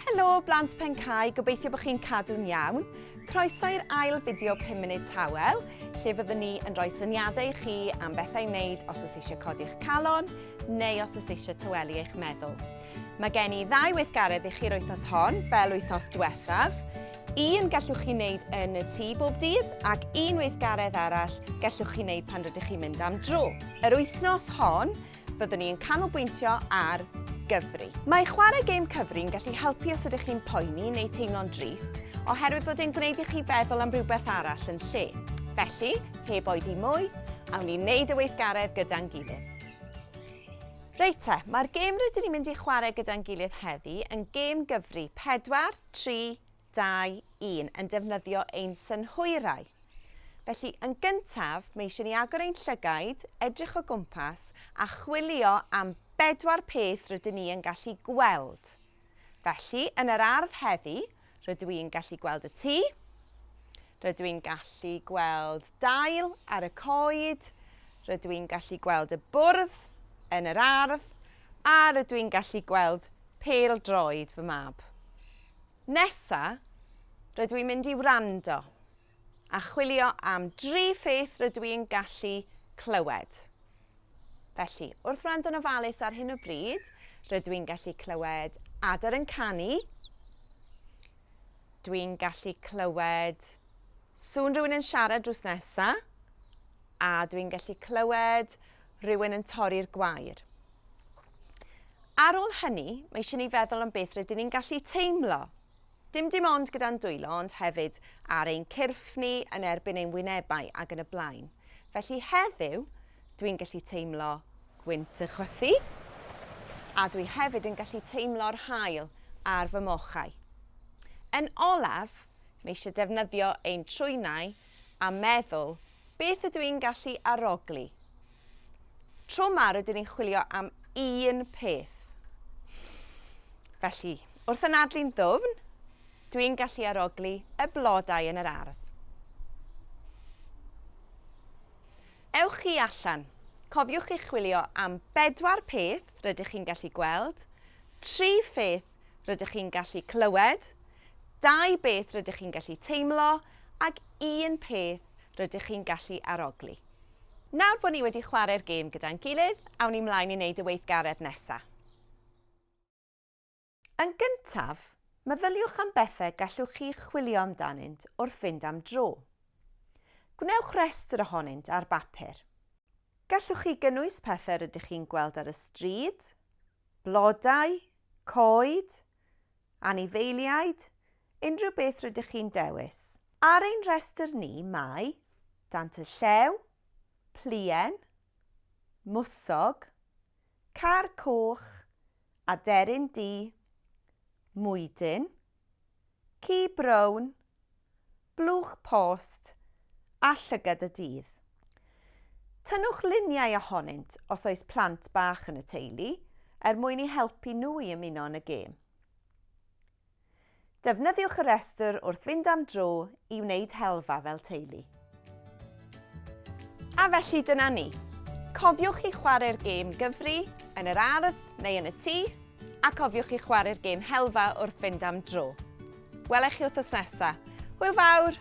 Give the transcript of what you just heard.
Helo, blant Pencau, gobeithio bod chi'n cadw'n iawn. Croeso i'r ail fideo 5 munud tawel, lle fyddwn ni yn rhoi syniadau i chi am bethau i wneud os oes eisiau codi'ch calon neu os oes eisiau tywelu eich meddwl. Mae gen i ddau weithgaredd i chi'r wythnos hon, fel wythnos diwethaf. Un gallwch chi wneud yn y tŷ bob dydd ac un weithgaredd arall gallwch chi wneud pan rydych chi'n mynd am dro. Yr wythnos hon, fyddwn ni yn canolbwyntio ar gyfri. Mae chwarae gêm cyfri yn gallu helpu os ydych chi'n poeni neu teimlo'n drist, oherwydd bod e'n gwneud i chi feddwl am rhywbeth arall yn lle. Felly, heb oedi mwy, awn ni wneud y weithgaredd gyda'n gilydd. Reit te, mae'r gêm rydyn ni'n mynd i chwarae gyda'n gilydd heddi yn gêm gyfri 4, 3, dau, un, yn defnyddio ein synhwyrau. Felly, yn gyntaf, mae eisiau ni agor ein llygaid, edrych o gwmpas a chwilio am bedwar peth rydyn ni yn gallu gweld. Felly, yn yr ardd heddi, rydw i'n gallu gweld y tŷ, rydw i'n gallu gweld dail ar y coed, rydw i'n gallu gweld y bwrdd yn yr ardd a rydw i'n gallu gweld pel droed fy mab. Nesa, rydw i'n mynd i wrando a chwilio am dri pheth rydw i'n gallu clywed. Felly, wrth wrando'n ofalus ar hyn o bryd, rydw i'n gallu clywed adar yn canu, dwi'n gallu clywed sŵn rhywun yn siarad drws nesa, a dwi'n gallu clywed rhywun yn torri'r gwair. Ar ôl hynny, mae eisiau ni feddwl am beth rydyn ni'n gallu teimlo. Dim dim ond gyda'n dwylo, ond hefyd ar ein cyrff ni, yn erbyn ein wynebau ac yn y blaen. Felly heddiw, dwi'n gallu teimlo gwynt y chwythu, a dwi hefyd yn gallu teimlo'r hael ar fy mochau. Yn olaf, mae eisiau defnyddio ein trwynau a meddwl, 'Beth ydw i'n gallu arogli? Tro 'ma rydyn ni'n chwilio am un peth. Felly, wrth anadlu'n ddwfn, dw i'n gallu arogli y blodau yn yr ardd. Ewch chi allan. Cofiwch chi chwilio am bedwar peth rydych chi'n gallu gweld, tri pheth rydych chi'n gallu clywed, dau beth rydych chi'n gallu teimlo ac un peth rydych chi'n gallu arogli. Nawr bod ni wedi chwarae'r gêm gyda'n gilydd, awn ni mlaen i wneud y weithgaredd nesaf. Yn gyntaf, meddyliwch am bethau gallwch chi chwilio amdanynt wrth fynd am dro. Gwnewch restr ohonynt ar bapur. Gallwch chi gynnwys pethau rydych chi'n gweld ar y stryd, Blodau, coed, anifeiliaid, unrhyw beth rydych chi'n dewis. Ar ein rhestr ni mae dant y llew, pluen, mwsog, car coch, aderyn du, mwydyn, Ci brown, blwch post a llygad y dydd. Tynnwch luniau ohonynt os oes plant bach yn y teulu er mwyn eu helpu nhw i ymuno yn y gêm. Defnyddiwch y rhestr wrth fynd am dro i wneud helfa fel teulu. A felly dyna ni. Cofiwch i chwarae'r gêm gyfri, yn yr ardd neu yn y tŷ, a cofiwch i chwarae'r gêm helfa wrth fynd am dro. Welech chi wrthos nesa. Hwyl fawr!